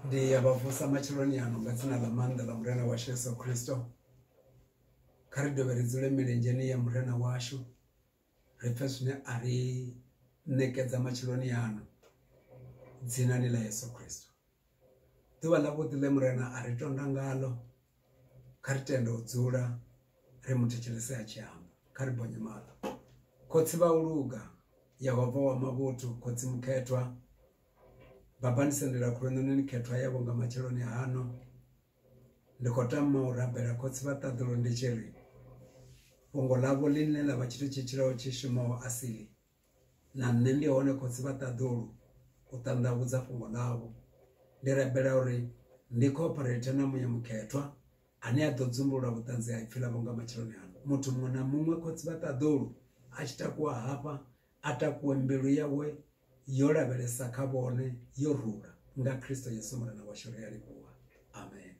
ndi ya vha vusa matsheloni ano nga dzina ḽa maanḓa ḽa murena washu yesu khristo kha ri dovhe ri dzule milenzheni ya murena washu ri pfhe zwine a ri ṋekedza matsheloni ano dzinani ḽa yesu khristo ḓuvha ḽavhuḓi ḽe murena a ri tonda ngalo kha ri tende u dzula ri mu thetshelese a tshi amba kha ri bonye maḽo khotsi vha u luga yehova wa mavhuthu khotsi mukhethwa Babani Sendela Khulwananeni khethwa yavho nga matsheloni hano ndi khou tama u rabela khotsi vha ṱaḓulo ndi tshi ri fhungo ḽavho ḽine ḽa vha tshithu tshi tshilaho tshi shumaho asili na nṋe ndi hone khotsi vha ṱaḓulu u ṱanḓavhudza fhungo ḽavho ndi rabela uri ndi cooperate na muya mukhethwa ane a ḓo dzumbulula vhuṱanzi ha ipfi ḽavho nga matsheloni ano muthu muṅwe na muṅwe khotsi vha ṱaḓulu a tshi takuwa hafha a takuwe mbilu yawe yo lavhelesa kha vhone yo rula nga Kristo Yesu Murena washu ri a livhuwa amen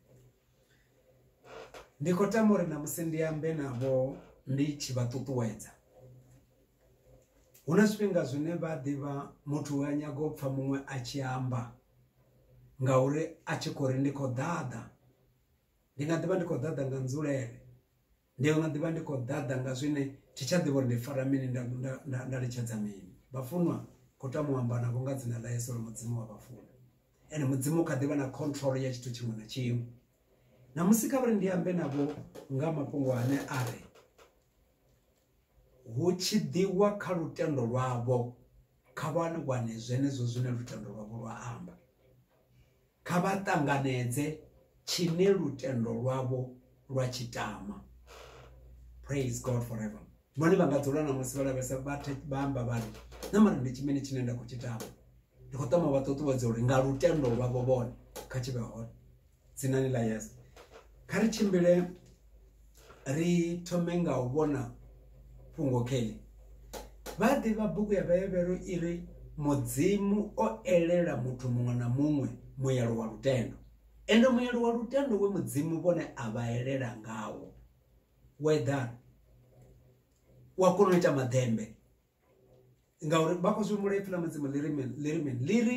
ndi khou tama uri namusi ndi ambe navho ndi tshi vha ṱuṱuwedza hu na zwifhinga zwine vha ḓivha muthu wa nyaga u pfha muṅwe a tshi amba ngauri a tshi khou ri ndi khou ḓaḓa ndi nga ḓivha ndi khou ḓaḓa nga nzulele Ndi nga ḓi vha ndi khou ḓaḓa nga zwine thi tsha ḓivha uri ndi fara mini nda, nda, nda, nda litshedza mini. Vhafunwa, khou tama u amba navho nga dzina ḽa Yesu uri Mudzimu wa vha funa. Ene Mudzimu kha ḓi vha na control ya tshithu tshiṅwe na tshiṅwe. Ṋamusi kha vha ri ndi ambe navho nga mafhungo ane a ri hu tshi ḓiwa kha lutendo lwavho kha vha wane zwenezwo zwine lutendo lwavho lwa amba. Kha vha ṱanganedze tshine lutendo lwavho lwa tshi tama. Praise God forever. Vhone vha nga dzula na musi vha lavhelesa vha amba vhari na mara ndi tshimene tshine nda khou tshi tama. Ndi khou tama vha ṱuṱuwedza uri nga lutendo lwavho vhone kha tshi vhe hone dzinani ḽa Yesu. Kha ri tshimbile ri thome nga u vhona fhungo kheḽi vha ḓivha bugu ya vhayevhero i ri mudzimu o elela muthu muṅwe na muṅwe muyelo wa lutendo ende muyelo wa lutendo we mudzimu vhone a vha elela ngawo weather wa kona u ita maḓembe ngauri vha khou zwi humbula ipfi ḽa mudzimu ḽi ri mini ḽi ri mini ḽi ri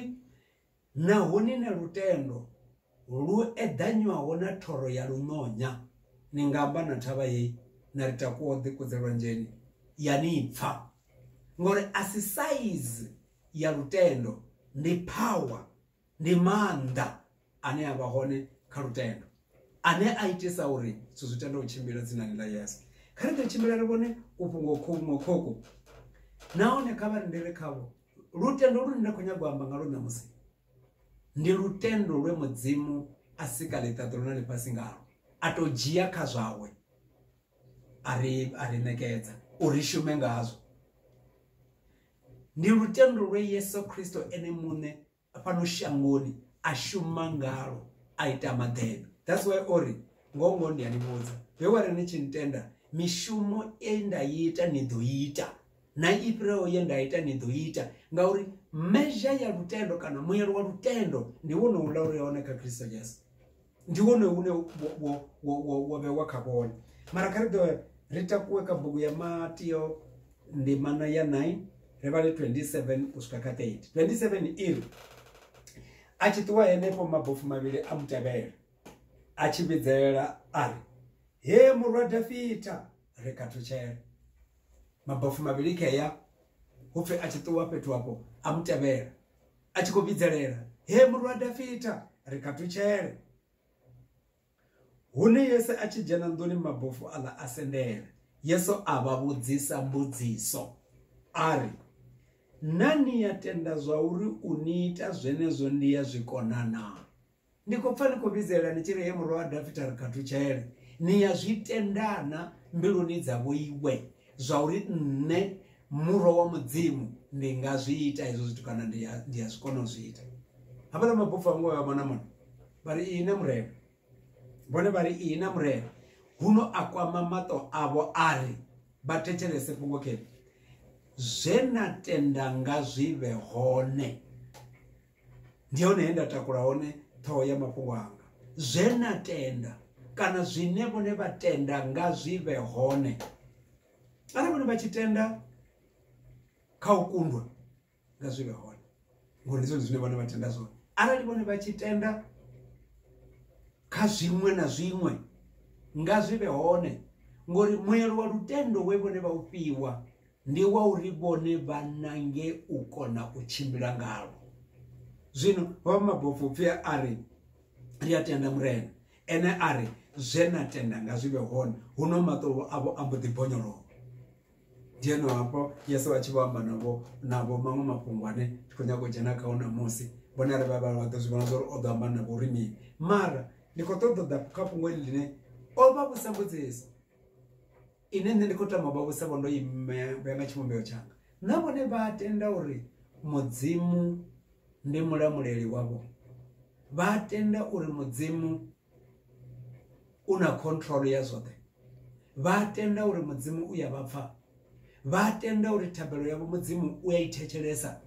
Naho ni na lutendo lu eḓanywaho na thoro ya luṋonya, ni nga amba na thavha hei, Na ri takuwa u ḓikudze lwanzheni, ya ni pfa. Ngauri a si saizi ya lutendo, ndi phawa, ndi maanḓa ane a vha hone kha lutendo, ane a itisa uri zwithu zwi tende u tshimbila dzinani ḽa Yesu. Kha ri ḓo tshimbila ri vhone kufhungo khuṅwe khokhu, nahone kha vha rindele khavho. lutendo lune nda khou nyaga u amba nga lwo ṋamusi ndi lutendo lwe mudzimu a sika ḽiṱaḓulu na ḽifhasi ngalo a tou dzhia kha zwawe a ri a ri ṋekedza uri shume ngazwo ndi lutendo lwe yesu kristo ene muṋe fhano shangoni a shuma ngalo a ita maḓebe that's why ori ngoho ngoho ndi a ni vhudza he wa ri ni tshi ntenda mishumo e nda i ita ni ḓo ita na i fhiraho ye nda ita ni ḓo ita ngauri mezha ya lutendo kana muyelo wa lutendo ndi wone uḽa uri hone kha kristo jesu ndi wone une wo vhewa kha vhone mara kha ri ḓo ri takuwe kha bugu ya matio ndimana ya 9 ri vhale 27 u swika kha 30 27 iri a tshi ṱuwa henefho mabofu mavhili a mutevhela a tshi vhidzelela a ri he murwa dafita ri khathutshela mabofu mavhili khea hupfi a tshi ṱuwa fhethu hafho a mutevhela a tshi khou vhidzelela he murwa dafita ri katutshele hune yesu a tshi dzhena nḓuni mabofu aḽa a sendela yesu a vha vhudzisa mbudziso a ri na ni ya tenda zwa uri u ni ita zwenezwo ndi ya zwikona naa Ndi khou pfa ni khou vhidzelela ni tshi ri, He Murwa wa Dafita, ri khathutshele! Ni ya zwi tendana mbiluni dza vhoiwe zwa uri nṋe Murwa wa Mudzimu ndi nga zwi ita hezwo zwithu kana ndi a ndi a zwi kona u zwi ita. Havhaḽa mabupfu a vho ngo vhuya vha vhona mona vha ri, Ihina Murena! Vhone vha ri, Ihina Murena! Huno a kwama maṱo avho a ri, Vha thetshelese fhungo khefhi! Zwe na tenda nga zwi vhe hone. ndi hone he nda takula hone ṱhoho ya mafhungo anga zwe na tenda kana zwine vhone vha tenda nga zwi vhe hone arali vhone vha tshi tenda kha u kundwa nga zwi vhe hone ngori ndi zwone zwine vhone vha tenda zwone arali vhone vha tshi tenda kha zwiṅwe na zwiṅwe nga zwi vhe hone ngori muelo wa lutendo we vhone vha u fhiwa ndi wa uri vhone vha nange u kona u tshimbila ngalwo zwino vha mabofho pfhi a ri ri a tenda murena ene a ri zwe na tenda nga zwi vhe hone huno maṱolo avho a mbo ḓi bonyolowa ndi eno hafho yesu a tshi vho amba navho navho maṅwe mafhungo ane ndi khou nyanga u dzhena kha u ṋamusi vhone a ri vha vha vha ḓo zwi vhona zwa uri o ḓo amba navho uri mini mara ndi khou ṱoḓa ḓa kha fhungo ḽi ḽine o vha vhusa mbudziso ine nṋe ndi khou tama u vha vhusa vho ndo imea na tshivhumbeo tshanga na vhone vha tenda uri mudzimu ndi mulamuleli wavho vha tenda uri mudzimu u na control ya zwoṱhe vha tenda uri mudzimu u ya vha pfha vha tenda uri thabelo yavho mudzimu u ya i thetshelesa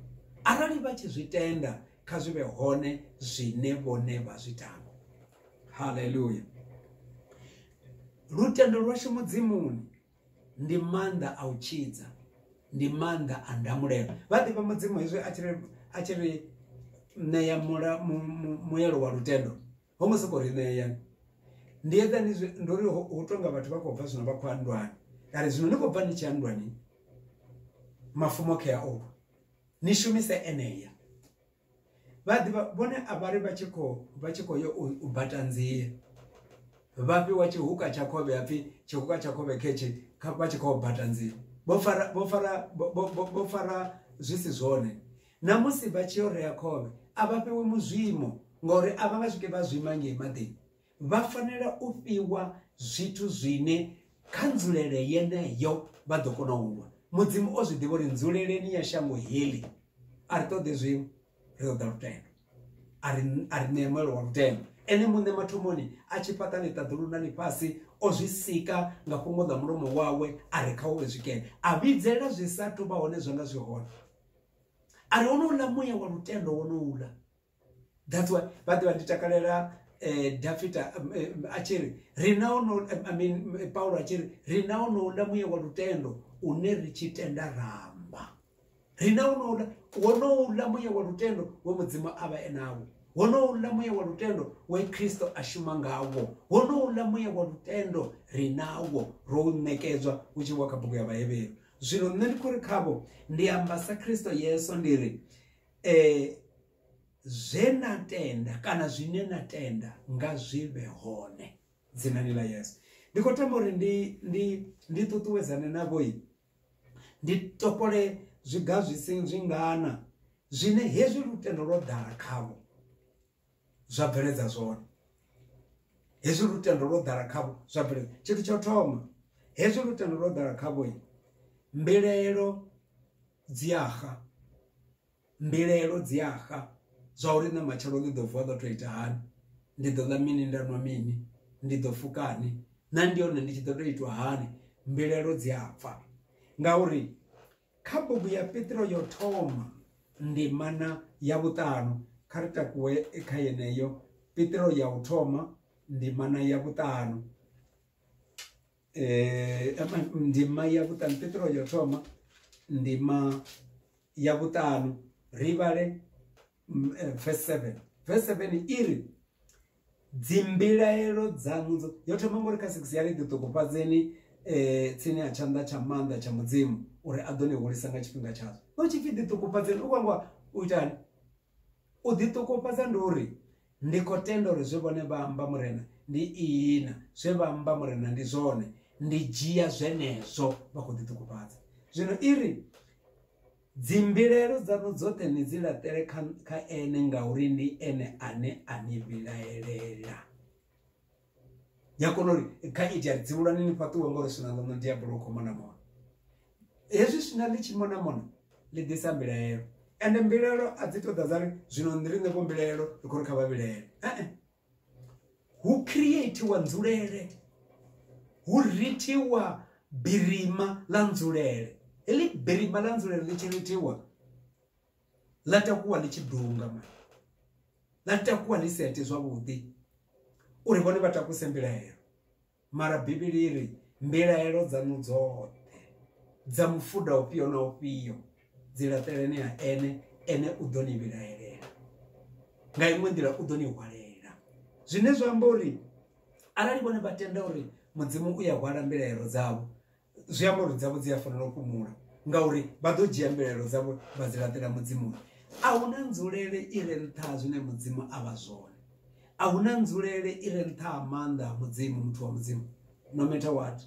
arali vha tshi zwi tenda kha zwi vhe hone zwine vhone vha zwi tama haleluya lutendo lwashu mudzimuni ndi maanḓa a u tshidza ndi maanḓa a ndamulelo vha ḓivha mudzimu hezwi a tshiri a tshiri ṋea mula muyelo wa lutendo ho ngo soko ri ṋea ndi eḓani ndo ri hu tonga vhathu vha khou bva zwino vha khou andwani kare zwino ni khou bva ni tshi andwani mafumo khe a oku ni shumise eneya vha ḓivha vhone a vhari vha tshi kho vha tshi kho yo u bata nzie vha fhiwa tshihuka tsha khovhe hapfi tshihuka tsha khovhe khetshe kha vha tshi khou bata nzie vho fara vho fara vho fara zwi si zwone na musi vha tshi yo rea khovhe a vha fhiwi muzwimo ngori a vha nga swike vha zwima ngei maḓini vha fanela u fhiwa zwithu zwine kha nzulele yeneyo vha ḓo kona u lwa mudzimu o zwi ḓivha uri nzuleleni ya shango heḽi a ri ṱoḓe zwiṅwe ri ṱoḓa lutendo a ri a ri ṋee muelo wa lutendo ene muṋe mathomoni a tshi fhaṱa ḽiṱaḓulu na ḽifhasi o zwi sika nga fhungo ḽa mulomo wawe a ri kha uvhe zwikene a vhidzelela zwi sa thu vha hone zwa nga zwi hone a ri honouḽa muya wa lutendo wonouḽa that's why vhaḓe vha ndi takalela eh, dafita um, eh, a tshi ri ri na ono eh, I mean, eh, paulo a tshi ri ri na onouḽa muye wa lutendo une ri tshi tenda ramba ri na onouḽa wonouḽa muye wa lutendo we mudzimu a vha enawo wonouḽa muye wa lutendo we khristo a shuma ngawo wonouḽa muye wa lutendo ri nawo ro u ṋekedzwa u tshi wa kha bugu ya vhahevheru zwino nṋe ndi khou ri khavho ndi amba sa khristo yesu ndi ri eh zwe na tenda kana zwine na tenda nga zwi vhe hone dzinani ḽa yesu ndi khou tamba uri ndi ndi ndi ṱuṱuwedzane navhoi ndi topole zwiga zwi si zwingana zwine hezwi lutendo lwo ḓala khavho zwa bveledza zwone hezwi lutendo lwo ḓala khavho zwa bveledza tshithu tsha u thoma hezwi lutendo lwo ḓala khavho mbilaelo dzi axa mbilaelo dzi axa zwa uri nṋe matshelo ndi ḓo vuwa ḓo to ita hani ndi ḓo ḽa mini nda nwa mini ndi ḓo fukani na ndi hone ndi tshi ḓo to itwa hani mbilaelo dzi a pfa ngauri Kha bugu ya Petro yo thoma ndimana ya vhuṱanu kha ri takuwe kha yeneyo Petro ya u thoma ndimana ya vhuṱanu eh ndima ya vhuṱanu Petro yo thoma ndima ya vhuṱanu ri vhale mm, eh, verse 7 verse 7 iri dzimbilaelo dzanu dzo yo thoma ngori kha 6 ya ri ḓi ṱokofhadzeni eh tsini ha tshanḓa tsha maanḓa tsha mudzimu uri a ḓo ni hulisa nga tshifhinga tshazo no tshi pfi ḓi ṱokofhadzeni u kwangwa u itani u ḓi ṱokofhadza ndi uri ndi khou tenda uri zwe vhone vha amba murena ndi ihina zwe vha amba murena ndi zwone ndi dzhia zwenezwo vha khou ḓi ṱokofhadza zwino iri Dzimbilaelo dzaṋu dzoṱhe ni dzi laṱele kha, kha Ene, ngauri ndi Ene ane a ni vhilaelela. Ni a kona uri kha iti ari dzivhulwane ni fhaṱuwe ngori swina ḽaṋu Diabolo u khou mona mona. Hezwi swina ḽi tshi mona mona ḽi ḓisa mbilaelo ende mbilaelo a dzi to ḓa dza ri zwino ni ri ṋevho mbilaelo ri khou ri kha vha vhilaele. hu creatiwa nzulele hu rithiwa birima ḽa nzulele heḽi birima ḽa nzulele ḽi tshi rithiwa ḽa takuwa ḽi tshi dunga ma ḽa takuwa ḽi sete zwavhuḓi uri vhone vha takuse mbilahelo Mara Bivhili i ri, Mbilaelo dzaṋu dzoṱhe dza mufuda ufhio na ufhio dzi laṱeleni ha Ene, Ene u ḓo ni vhilaelela. Nga iṅwe nḓila u ḓo ni hwalela. Zwine zwa amba uri arali vhone vha tenda uri Mudzimu u ya hwala mbilaelo dzavho, zwi amba uri dzavho dzi a fanela u fhumula ngauri vha ḓo dzhia mbilaelo dzavho vha dzi laṱela mudzimuni a hu na nzulele i re nṱha ha zwine mudzimu a vha zwone a hu na nzulele i re nṱha ha maanḓa a mudzimu muthu wa mudzimu no matter what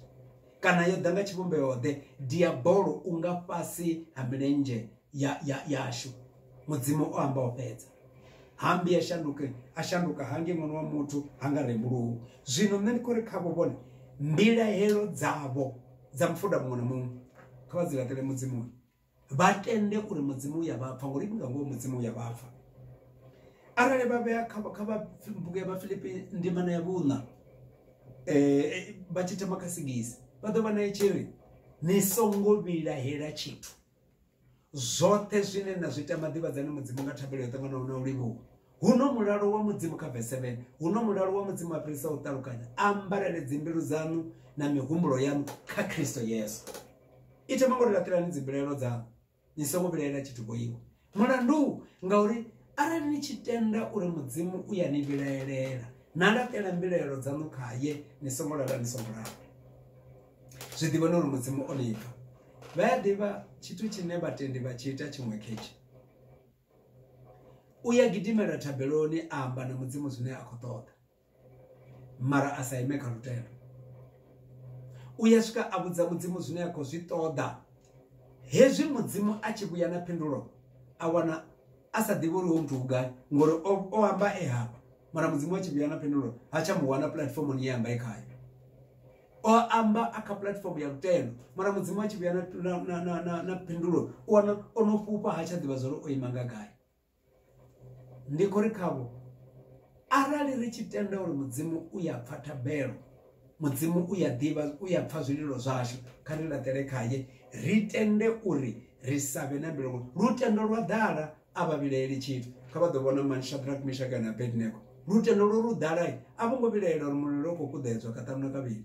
kana yo ḓa nga tshivhumbeo ḓe diabolo u nga fhasi ha milenzhe ya, ya, yashu mudzimu o amba o fhedza hambi a shanduke a shanduka hange ṅwana wa muthu ha nga rembuluwi zwino nṋe ndi khou ri khavho vhone mbilahelo dzavho dza mufuda muṅwe na muṅwe kha vha dzi laṱele mudzimuni vha tende uri mudzimu u ya vhapfa ngori ndi nga ngoho mudzimu u ya vhapfa arali vha vhea kha kha vha bugu ya vhafilipi ndimana ya vhuṋa um vha tshi thoma kha sigisi vha ḓo vha naye tshi ri ni songo vhilahela tshithu zwoṱhe zwine na zwi tama ḓivhadzani mudzimu nga thabelo yo ṱanganaho na u livhuwa huno mulalo wa mudzimu kha vese 7 huno mulalo wa mudzimu a fhirisa u ṱalukanya ambarele dzimbilu dzaṋu na mihumbulo yaṋu kha kristo yesu ite mangori laṱelani dzimbilaelo dzaṋu ni songo vhilaela tshithu boiwa Mulandu ngauri arali ni tshi tenda uri Mudzimu u ya ni vhilaelela, na laṱela mbilaelo dzaṋu khaye, ni songo lala ni songo lala. Zwi ḓivheni uri Mudzimu o ni pfa. Vha a ḓivha tshithu tshine vhatendi vha tshi ita tshiṅwe khetsho. U ya gidimela thabeloni a amba na Mudzimu zwine a khou ṱoḓa. mara a sa ime kha lutendo u ya swika a vhudza mudzimu zwine a khou zwi ṱoḓa hezwi mudzimu a tshi vhuya na phindulo a wana a sa ḓivhi uri ho muthu vhugai ngori o amba e hafha mara mudzimu a tshi vhuya na phindulo ha tsha mu wana puḽatifomoni ye amba e khayo o amba a kha puḽatifomo ya lutendo mara mudzimu a tshi vhuya na phindulo u wana o no fhufha ha tsha ḓivha zwa uri o ima nga gai ndi khou ri khavho arali ri tshi tenda uri mudzimu u ya pfha thabelo mudzimu u ya ḓivha u ya pfha zwililo zwashu kha ri laṱele khaye ri tende uri ri sa vhe na mbilongo lutendo lwa ḓala a vha vhilaeli tshithu kha vha ḓo vhona mani shadrack mishaka na abednego lutendo lwo lu ḓalai a vho ngo vhilaela uri mulilo u khou kuḓedzwa kaṱanu na kavhili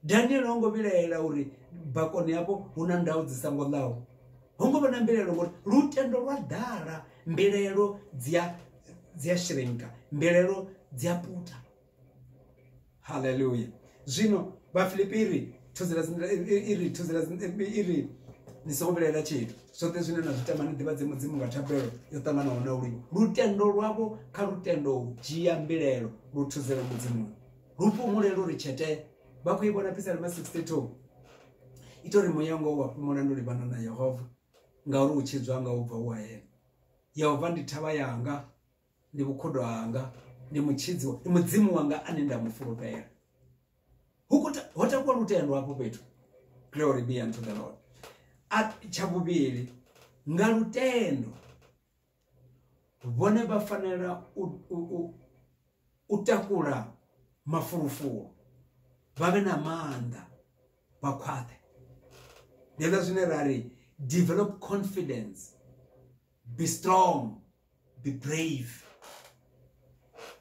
daniele ho ngo vhilaela uri bakoni yavho hu na ndau dzi songo ḽaho ho ngo vha na mbilaelo ngori lutendo lwa ḓala mbilaelo dzi a dzi a shrinka mbilaelo dzi a puta haleluya zwino vhafilipi iri thuzela iri thuzela iri ni songo vhilaela tshithu zwoṱhe zwine na zwi tama ni ḓivhadze mudzimu nga thabelo yo ṱanganaho na ulimi lutendo lwavho kha lutendo u dzhia mbilaelo lu thuzela mudzimuni lu fhumule lu ri tshete vha khou i vhona pisalema 62 ita uri muya ngoho wa fhumula ndi u livhana na yehova ngauri u tshidzwa nga u bva u hayela yehova ndi thavha yanga ndi vhukhudo hanga ndi mutshidzi wa- ndi mudzimu wanga ane nda mu fulufhela Hu khou ta- ho takuwa lutendo hafho fhethu glory be unto the lord A- tsha vhuvhili nga lutendo vhone vha fanela u takula mafulufulu vha vhe na maanḓa vha khwaṱhe ndi hezwo zwine ra ri develop confidence be strong be brave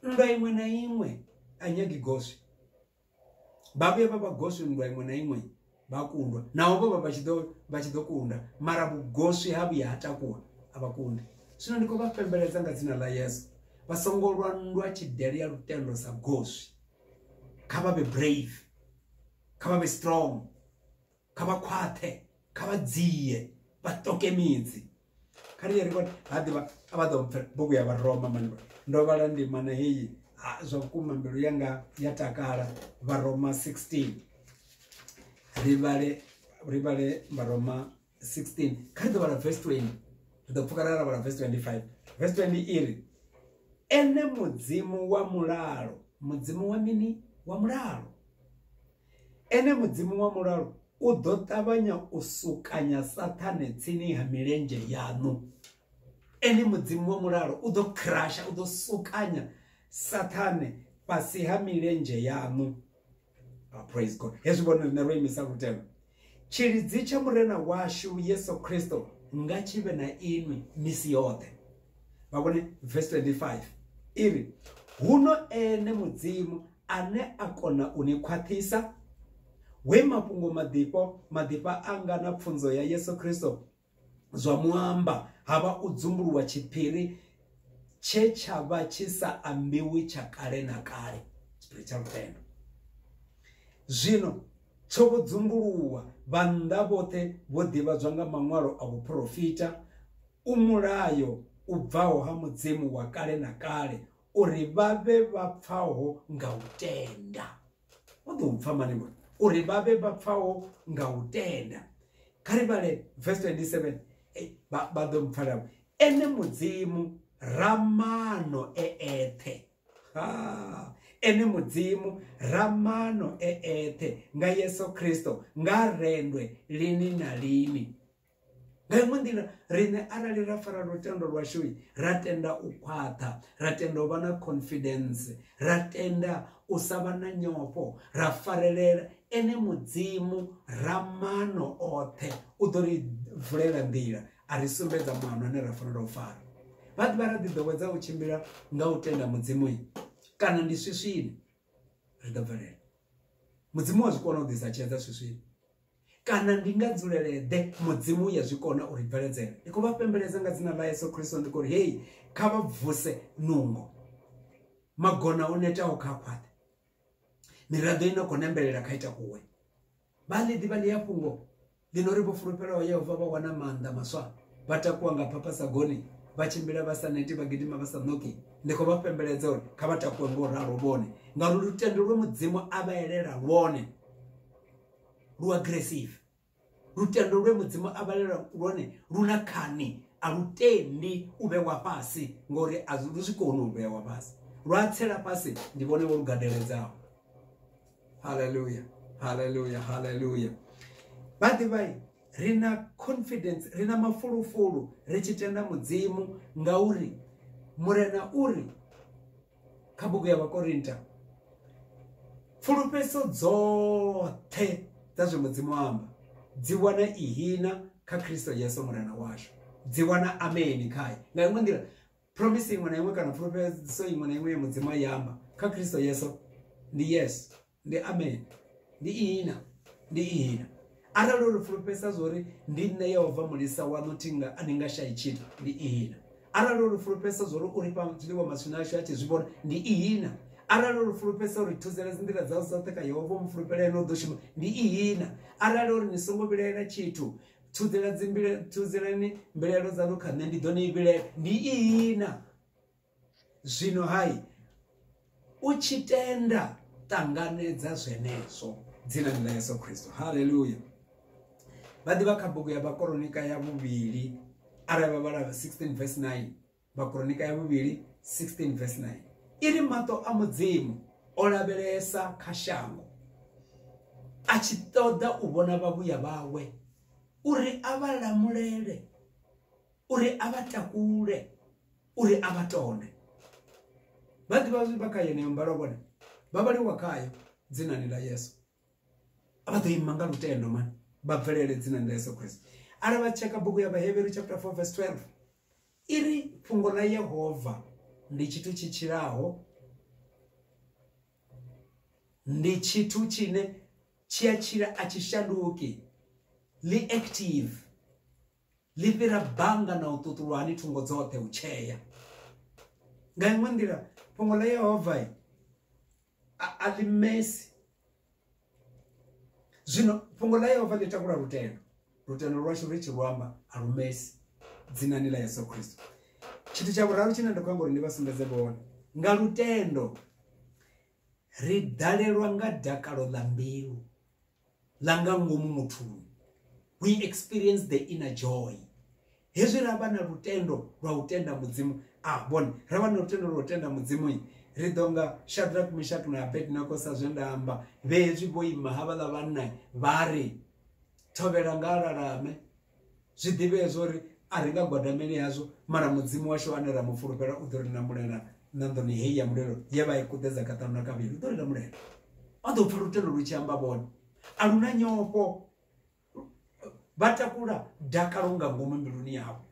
nndwa iṅwe na iṅwe a nyagi goswi vha vhuya vha vha goswi nndwa iṅwe na iṅwe vha kundwa naho vho vha vha tshi ḓo vha tshi ḓo kunda mara vhugoswi ha vhuya ha takuwa a vha kundi zwino ndi khou vha pembeledza nga dzina ḽa yesu vha songo lwa nndwa tshidele ya lutendo sa goswi kha vha vhe brave kha vha vhe strong kha vha khwaṱhe kha vha dzie vha toke midzi kha ri ri ha ḓivha a vha ḓo mpfe bugu ya vharoma mani ndo vhala ndimana heyi zwa vhukuma mbilu yanga ya takala vharoma 16 ri vhale ri vhale vharoma 16 kha ri ḓo vhala verse 20 ri ḓo pfuka ra ra vhala verse 25 verse 20 iri ene mudzimu wa mulalo mudzimu wa mini wa mulalo Ene Mudzimu wa mulalo u ḓo ṱavhanya u sukanya Saṱhane tsini ha milenzhe yaṋu. Ene Mudzimu wa mulalo u ḓo crush-a, u ḓo sukanya Saṱhane fhasi ha milenzhe yaṋu. Praise God. Hezwi vhone riṋe ro imisa lutendo. Tshilidzi tsha Murena washu Yesu Kristo nga tshi vhe na inwi misi yoṱhe. Vha vhone verse 25 i ri, Huno ene Mudzimu ane a kona u ni khwaṱhisa, we mafhungo maḓifho maḓifha anga na pfunzo ya Yesu Kristo zwa muamba ha vha u dzumbuluwa tshiphiri tshe tsha vha tshi sa ambiwi tsha kale na kale tshiphiri tsha lutendo zwino tsho vho dzumbuluwa vhannḓa vhoṱhe vho ḓivhadzwa nga maṅwalo a vhuprofita u mulayo u bvaho ha mudzimu wa kale na kale uri vha vhe vha pfaho nga u tenda vha ḓo pfha mani ngori uri vha vhe vha pfaho nga u tenda kha ri vhale verse 27 vha ḓo mpfala ene mudzimu ramano e eṱhe ene mudzimu ramano e eṱhe nga yesu kristo nga rendwe lini na lini nga iṅwe nḓila riṋe arali ra fara lutendo lwashoi ra tenda u khwaṱha ra tenda u vha na confidence ra tenda u sa vha na nyofho ra farelela ene mudzimu ra mano oṱhe u ḓo ri vulela nḓila a ri sumbedza mano ane ra fanela u fara vha ḓivha ra ḓiḓowedza u tshimbila nga u tenda mudzimu kana ndi swiswini ri ḓo bvelela mudzimu wa zwi kona u ḓisa tshedza swiswini Kana ndi nga dzulele-ḓe Mudzimu ya zwi kona u ri bveledzela? Ndi khou vha fhembeledza nga dzina ḽa Yesu Kristo ndi khou ri hei kha vha bvuse nungo. Magona o netaho kha khwaṱhe. Miraḓo i no khou nembelela kha ita kuwe. Vha ḽi ḓivha ḽi a fhungo ḽi no ri vho fulufhelaho Yehova vha wana maanḓa maswa vha takuwa nga phapasagoni vha tshimbila vha sa neti vha gidima vha sa ṋoki ndi khou vha fhembeledza uri kha vha takuwe ngo ralo vhone ngauri lutendo lwe mudzimu a vha elela lwone lu aggressive lutendo lwe mudzimu a vhalela lwone lu na khani a lu tendi u vhewa fhasi ngori a lu zwi koni u vhewa fhasi lwa tsela fhasi ndi vhone vho lugadeledzaho haleluya haleluya haleluya vha ḓivhai ri na confidence ri na mafulufulu ri tshi tenda mudzimu ngauri murena uri kha bugu ya vhakorinta pfulufheso dzoṱhe dza zwe mudzimu amba dzi wana ihina kha khristo yesu murena washu dzi wana ameni khaye nga iṅwe nḓila promise iṅwe na iṅwe kana pfulufheso iṅwe na iṅwe ya mudzimu a i amba kha khristo yesu ndi yesu ndi amen ndi ihina ndi ihina arali uri fulufhesa zwori ndi nṋe yehova mulisa wanu thinga a ni nga shayi tshithu ndi ihina arali uri fulufhesa zwori uri fha zwiḽiwa maswina ashu a tshi zwi vhona ndi ihina arali uri fulufhesa uri thuzela dzi nḓila dzau dzoṱhe kha yehova mu fulufhela ene u ḓo shuma ndi ihina arali uri ni songo vhilaela tshithu thudzela dzimbilaelo thuzelani mbilaelo dzanu kha nṋe ndi ḓo ni vhilaela ndi ihina zwino hai u tshi tenda ṱanganedza zwenezwo dzinani ḽa yesu kristo haleluya vha ḓivha kha bugu ya vhakoronika ya vhuvhili arali vha vhala 16 vs 9 vhakoronika ya vhuvhili 16 vs 9 i ri maṱo a mudzimu o lavhelesa kha shango a tshi ṱoḓa u vhona vhavhuya vhawe uri a vha lamulele uri a vha takule uri a vha tone vha ḓivha zwi vha kha yeneyo mbalo vhone vha vhaliwa khayo dzinani ḽa yesu a vha ḓo ima nga lutendo mani vha bvelele dzinani ḽa yesu kristo arali vha tsheka bugu ya vhaheveru chapter 4 verse 12 i ri fhungo ḽa yehova ndi tshithu tshi tshilaho ndi tshithu tshine tshi a tshila a tshi shanduki ḽi active ḽi fhira bannga na u ṱuṱulwa hani thungo dzoṱhe u tshea nga iṅwe nḓila fhungo ḽa yehova a ḽi mesi zwino fhungo ḽa yehova ḽi takula lutendo lutendo lwashu ri tshi luamba a lu mesi dzinani ḽa yesu khristo tshithu tsha vhuraru tshine nda khou amba uri ndi vha sumbedze vhone nga lutendo ri ḓalelwa nga dakalo ḽa mbilu ḽa nga ngomu muthuni we experience the inner joy hezwi ra vha na lutendo lwa u tenda mudzimu a ah, vhone ra vha na lutendo lwa u tenda mudzimu ri ḓo nga shadrak mishak na abednego sa zwe nda amba vhe hezwi vho ima havhaḽa vhanna vha ri thovhela nga alalame zwi ḓivhee zwo uri a ri nga gwadameli hazwo mara mudzimu washu ane ra mu fulufhela u ḓo ri lamulela ṋanḓoni heyi ya mulelo ye vha i kuḓedza kaṱanu na kavhili u ḓo ri lamulela o ḓo pfa lutendo lu tshi amba vhone a lu na nyofho vha takula dakalo nga ngomu mbiluni yavho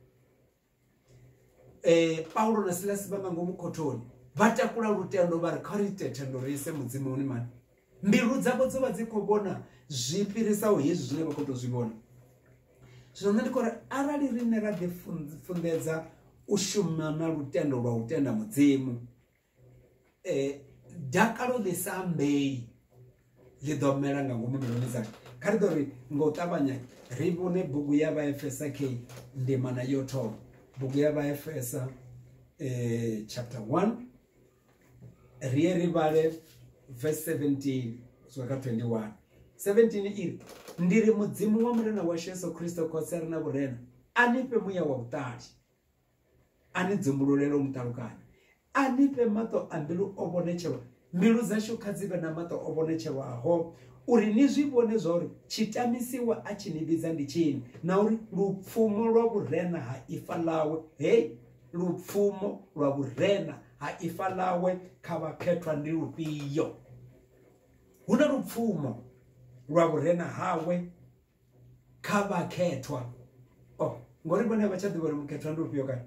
eh Paulo na Silas vha nga ngomu khothoni vha takula lutendo vha ri kha ri ite thendo ri ise mudzimuni mani mbilu dzavho dzo vha dzi khou vhona zwi fhirisaho hezwi zwine vha khou tou zwi vhona zwino nṋe ndi khou ri arali riṋe ra ḓi funḓedza u shuma na lutendo lwa u tenda mudzimu eh dakalo ḽi sa ambei ḽi ḓo mela nga ngomu mbiluni dzanga kha ri ḓo ri nga u ṱavhanya ri vhone bugu ya vhaefesa k ndimana yo thoma bugu ya vhaefesa eh, chapter 1 ri ye ri vhale verse 17 swika kha 21 17 iri ndi ri mudzimu wa murena washu yesu kristo khotsi a re na vhurena a ni fhe muya wa vhuṱali a ni dzumbululele u muṱalukanya a ni fhe maṱo a mbilu o vhonetshelwa mbilu dzashu kha dzi vhe na maṱo o vhonetshelwaho uri ni zwi vhone zwa uri tshitamisiwa a tshi ni vhidza ndi tshini na uri lupfumo lwa vhurena ha ifa ḽawe hei lupfumo lwa vhurena ha ifa ḽawe kha vhakhethwa ndi lufhio hu na lupfumo lwa vhurena hawe kha vhakhethwa o oh, ngori vhone vha tsha ḓivha uri mukhethwa ndi ufhio kana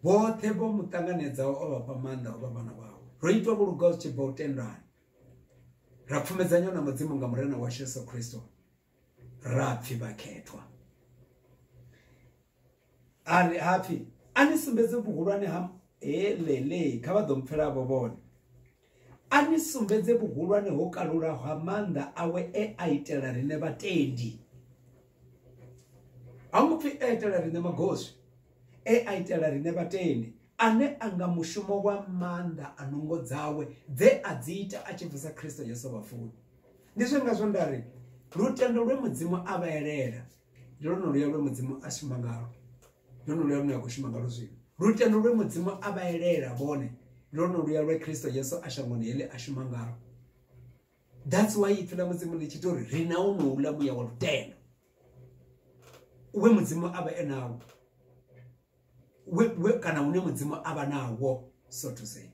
vhoṱhe vho mu ṱanganedzaho o vhafha maanḓa o vha vhana vhawe ro itwa vhulugaho zwi tshi bva u tendani ra pfumedzanywa na mudzimu nga murena washu yesu kristo ra pfhi vhakhethwa a ri hapfi a ni sumbedze vhuhulwane ha he lele kha vha ḓo mpfela vho vhone a ni sumbedze vhuhulwane ho kalulaho ha maanḓa awe e a itela riṋe vhatendi ha ngo pfhi e itela riṋe magoswi e a itela riṋe vhatendi ane a nga mushumo wa maanḓa a nungo dzawe dze a dzi ita a tshi bvisa khristo yesu vhafuni ndi zwi ngazwo nda ri lutendo lwe mudzimu a vha elela ndi lwone luya lwe mudzimu a shuma ngalo ndi lwone luya lune a khou shuma ngalo zwino lutendo lwe mudzimu a vha elela vhone ndi lwone luya lwe kristo yesu a shangoni heḽi a shuma ngalo that's why ipfi ḽa mudzimu ḽi tshi ita uri ri na wonouḽa muya wa lutendo we mudzimu a vha e nawo kana hune mudzimu a vha nawo so to say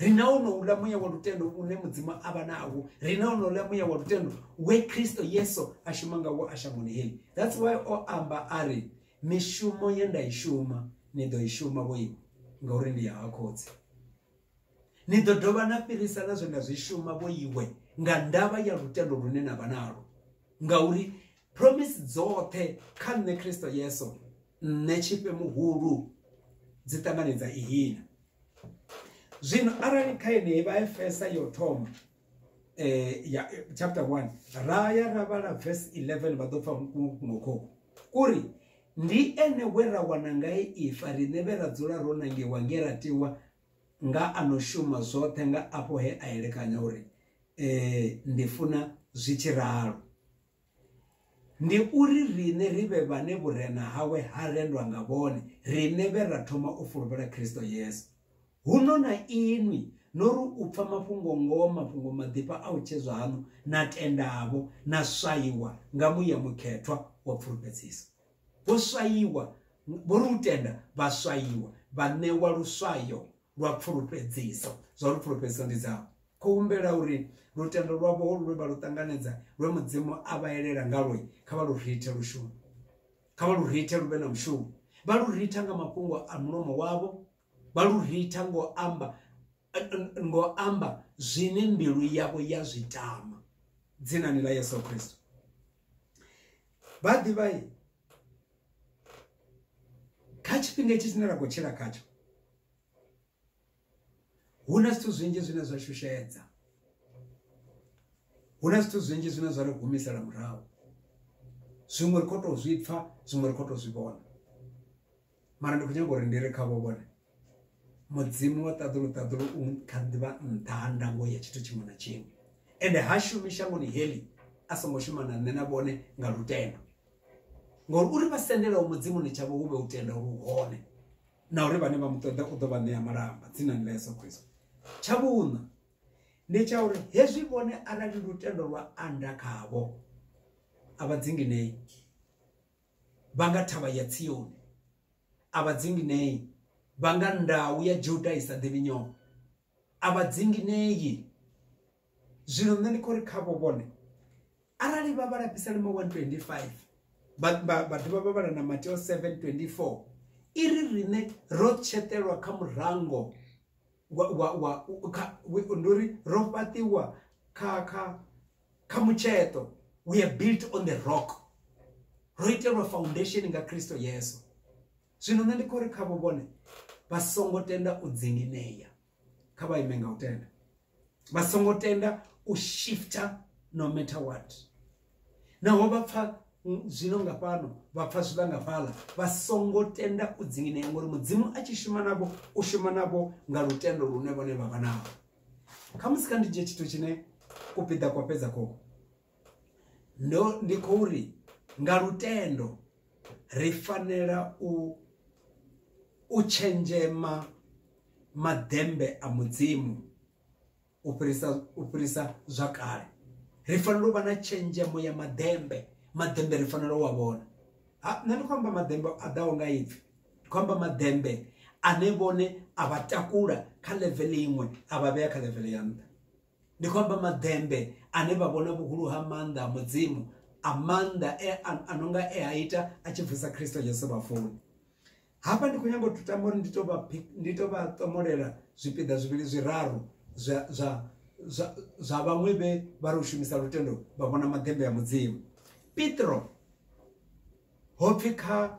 ri na wonouḽa muya wa lutendo une mudzimu a vha nawo ri na wonouḽa muya wa lutendo we kristo yesu a shuma ngawo a shangoni heli that's why o amba a ri mishumo ye nda i shuma ni ḓo i shuma vhoiwe ngauri ndi ya ha khotsi ni ḓo dovha na fhirisa na zwe nda zwi shuma vhoiwe nga ndavha ya lutendo lune na vha nalo ngauri promise dzoṱhe kha nṋe kristo yesu nṋe tshifhe muhulu dzi ṱanganedza ihina zwino arali kha yeneyi vha efesa yo thoma eh ya chapter 1 ra ya ra vhala verse 11 vha ḓo pfa ngokhoko kuri ndi ene we ra wana ngae ifa riṋe vhe ra dzula ro nangiwa nge ra tiwa nga ano shuma zwoṱhe nga afho he a elekanya uri eh ndi funa zwi tshi ralo Ndi uri riṋe ri vhe vhane vhurena hawe ha rendwa nga vhone, riṋe vhe ra thoma u fulufhela Kristo Yesu. Huno na inwi no ri u pfa mafhungo-ngoho, mafhungo maḓifha a u tshedzwa haṋu, na tendavho, na swaiwa nga muya mukhethwa wa pfulufhedziso. Vho swaiwa, vho ri u tenda, vha swaiwa, vha ṋewa luswayo lwa pfulufhedziso, zwa uri pfulufhedziso ndi dzavho. Khou humbela uri lutendo lwavho holu lwe vha lu ṱanganedza, lwe Mudzimu a vha elela ngalwo, kha vha lu rithe lu shume. Kha vha lu rithe lu vhe na mushumo. Vha lu ritha nga mafhungo a mulomo wavho, vha lu ritha ngo amba ngo amba zwine mbilu yavho ya zwi tama. Dzinani ḽa Yesu Kristo. Vha ḓivha kha tshifhinga itshi tshine ra khou tshila khatsho huna zwithu zwinzhi zwine zwa shushedza huna zwithu zwinzhi zwine zwa ri humisela murahu zwiṅwe ri kho to zwi pfa zwiṅwe ri kho to zwi vhona mara ndi khou nyanga uri ndi ri khavho vhone mudzimu wa ṱaḓulu ṱaḓulu u kha ḓivha nṱha ha ndango ya tshithu tshiṅwe na tshiṅwe ende ha shumi shangoni heḽi a songo shuma na nṋe na vhone nga lutendo ngori uri vha sendelaho mudzimuni tshavho hu vhe u tenda uri u hone na uri vhane vha mu ṱoḓa u ḓo vha ṋea malamba dzinani ḽa yesu khristo tsha vhuṋa ndi tsha uri hezwi vhone arali lutendo lwa anda khavho a vha dzinginei vha nga thavha ya tsioni a vha dzinginei vha nga ndau ya juda i sa ḓivhi nyongo a vha dzinginei zwino nṋe ndi khou ri khavho vhone arali vha vha lapisa lima 125 vha dovha vha vhala na mateo 724 i ri riṋe ro tshetelwa kha murango ndi uri ro fhaṱiwa kha kha kha mutsheṱo we are built on the rock ro itelwa foundation nga kristo yesu zwino nṋe ndi khou ri khavho vhone vha songo tenda u dzinginea kha vha ime nga u tenda vha songo tenda u shifter no matter what naho vha pfa zwino nga fhano vha pfa zwiḽa nga fhaḽa vha songo tenda u dzinginea ngori mudzimu a tshi shuma navho u shuma navho nga lutendo lune vhone vha vha navho khamusi kha ndi dzhie tshithu tshine kupiḓa kwa fhedza khokho ndo ndi khou ri nga lutendo ri fanela u u tshenzhema maḓembe a mudzimu u fhirisa u fhirisa zwa kale ri fanela u vha na tshenzhemo ya maḓembe maḓembe ri fanela u a vhona ha nṋe ndi khou amba maḓembe a ḓaho nga ipfhi ndi khou amba maḓembe ane vhone a vha takula kha level iṅwe a vha vhea kha level ya nṱha ndi khou amba maḓembe ane vha vhona vhuhulu ha maanḓa a mudzimu a maanḓa e a no nga e a ita a tshi bvisa khristo jesu vhafuni hafha ndi khou nyanga u tama uri ndi to vha ndi to vha tomolela zwipiḓa zwivhili zwiraru zwa zwa zwa zwa vhaṅwe vhe vha ri u shumisa lutendo vha vhona maḓembe a mudzimu petro ho pfhi kha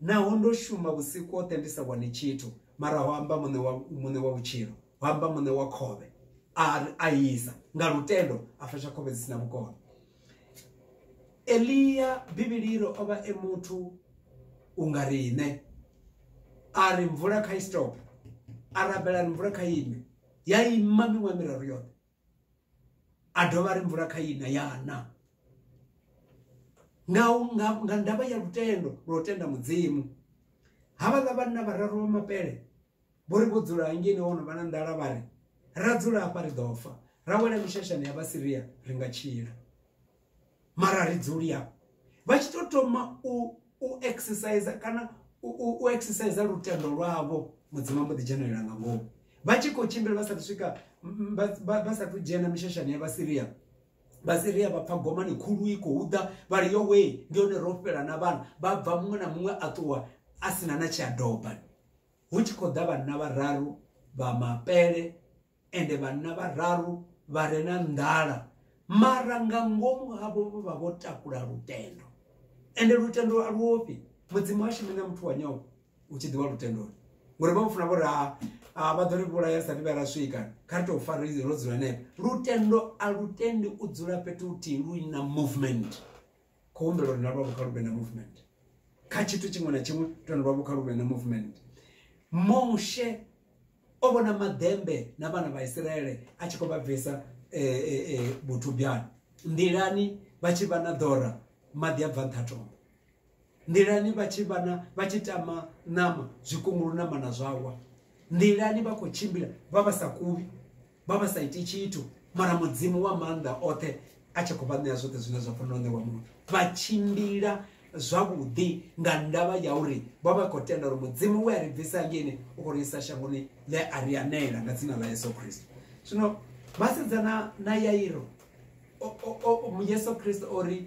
Naho ndo shuma vhusiku hoṱhe ndi sa wane tshithu, mara ho amba muṋe wa muṋe wa vhutshilo, ho amba muṋe wa khovhe, a ri a isa nga lutendo a fasha khovhe dzi si na vhukono. Elia Bivhili iri o vha e muthu u nga riṋe, a ri mvula kha i stop, a rabela ri mvula kha ime, ya ima miṅwaha miraru yoṱhe. a dovha ri mvula kha ina yana nga nga nga ndavha ya lutendo lwo tenda mudzimu havha ḽa vhanna vhararu vha mapele vho ri vho dzula ngene wono vha na ndala vha ri ra dzula hafha ri ḓo fa ra wela mishashani ya vhasiria ri nga tshila mara ri dzuli yavho vha tshi to thoma u u exercise kana u exercise lutendo lwavho mudzimu ambo ḓi dzhenelela nga ngomu vha tshi khou tshimbila vha sathu swika vha sathu dzhena mishashani ya vhasiria vhasiria vha pfa gomani khulu i khou ḓa vha ri yo wee ndi hone ro fhela na vhana vha bva muṅwe na muṅwe a ṱuwa a sina na tshiadoba hu tshi khou ḓa vhanna vhararu vha mapele ende vhanna vhararu vha re na nḓala mara nga ngomu havho vho vha vho takula lutendo ende lutendo a luofhi mudzimu ha shumi na muthu wa nyofho u tshi ḓiwa lutendoni ngori vha mufuna vhori ha vha ḓo ri vhulaya sa vha ra swika kha ri tou fara ro dzula henefho lutendo a lutendi u dzula fhethu huthihi lu na movement kho humbela uri na lwavho kha lu vhe na movement kha tshithu tshiṅwe na tshiṅwe lutendo lwavho kha lu vhe na movement moshe o vhona maḓembe na vhana vha Isiraele a tshi khou vha bvisa vhuthubyani eh, eh, eh, nḓilani vha tshi vha na ḓora maḓi a bva nṱha tombo nḓilani vha tshi vha na vha tshi tama ṋama zwikungulu na mana zwawa nḓilani vha khou tshimbila vha vha sa kuvhi vha vha sa iti tshithu mara mudzimu wa maanḓa oṱhe a tshi khou vha ṋea zwoṱhe zwine zwa fanela u ṋewa muthu vha tshimbila zwavhuḓi nga ndavha ya uri vha vha khou tenda uri mudzimu we a ri bvisa ngeni u khou ri isa shangoni ḽe a ri anela nga dzina ḽa yesu khristo zwino vhasedzana na yairo yesu khristo o ri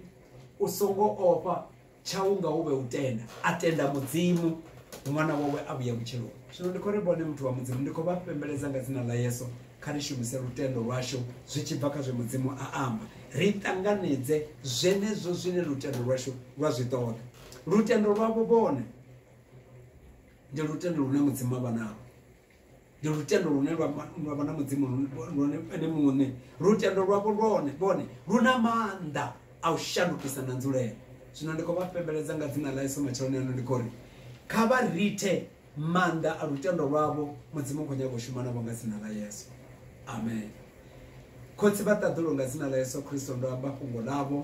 u songo ofha tsha unga hu vhe u tenda a tenda mudzimu ṅwana wawe a vhuya vhutshiloni zwino ndi khou ri vhone muthu wa mudzimu ndi khou vha fhembeledza nga dzina ḽa yesu kha ri shumise lutendo lwashu zwi tshi bva kha zwe mudzimu a amba ri ṱanganedze zwenezwo zwine lutendo lwashu lwa zwi ṱoḓa lutendo lwavho vhone ndi lutendo lune mudzimu a vha nao ndi lutendo lune lwa ma- lwa vha na mudzimu lune- lwone ene muṋe lutendo lwavho lwone vhone lu na maanḓa a u shandukisa na nzulelo zwino ndi khou vha pembeledza nga dzina ḽa yesu matsheloni ano ndi khou ri kha vha rithe maanḓa a lutendo lwavho mudzimu u khou nyanga u shuma navho nga dzina ḽa yesu amen khotsi vha ṱaḓulu nga dzina ḽa yesu kristo ndo amba fhungo ḽavho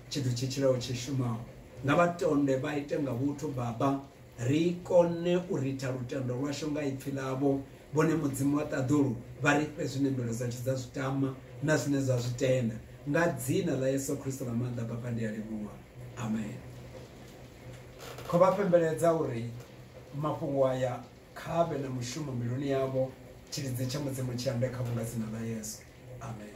tshithu tshi tshilaho tshi shumaho nga vha tonde vha ite nga vhuthu baba ri kone u ritha lutendo lwashu nga ipfi ḽavho, vhone Mudzimu wa ṱaḓulu vha ri fhe zwine mbilu dzashu dza zwi tama na zwine dza zwi tenda. Nga dzina ḽa Yesu Kristo ḽa maanḓa, Baba, ndi a livhuwa. Amen. Kho vha pembeledza uri mafhungo aya kha vhe na mushumo mbiluni yavho, tshilidzi tsha Mudzimu tshi ambe kha vhunga dzina ḽa Yesu. Amen.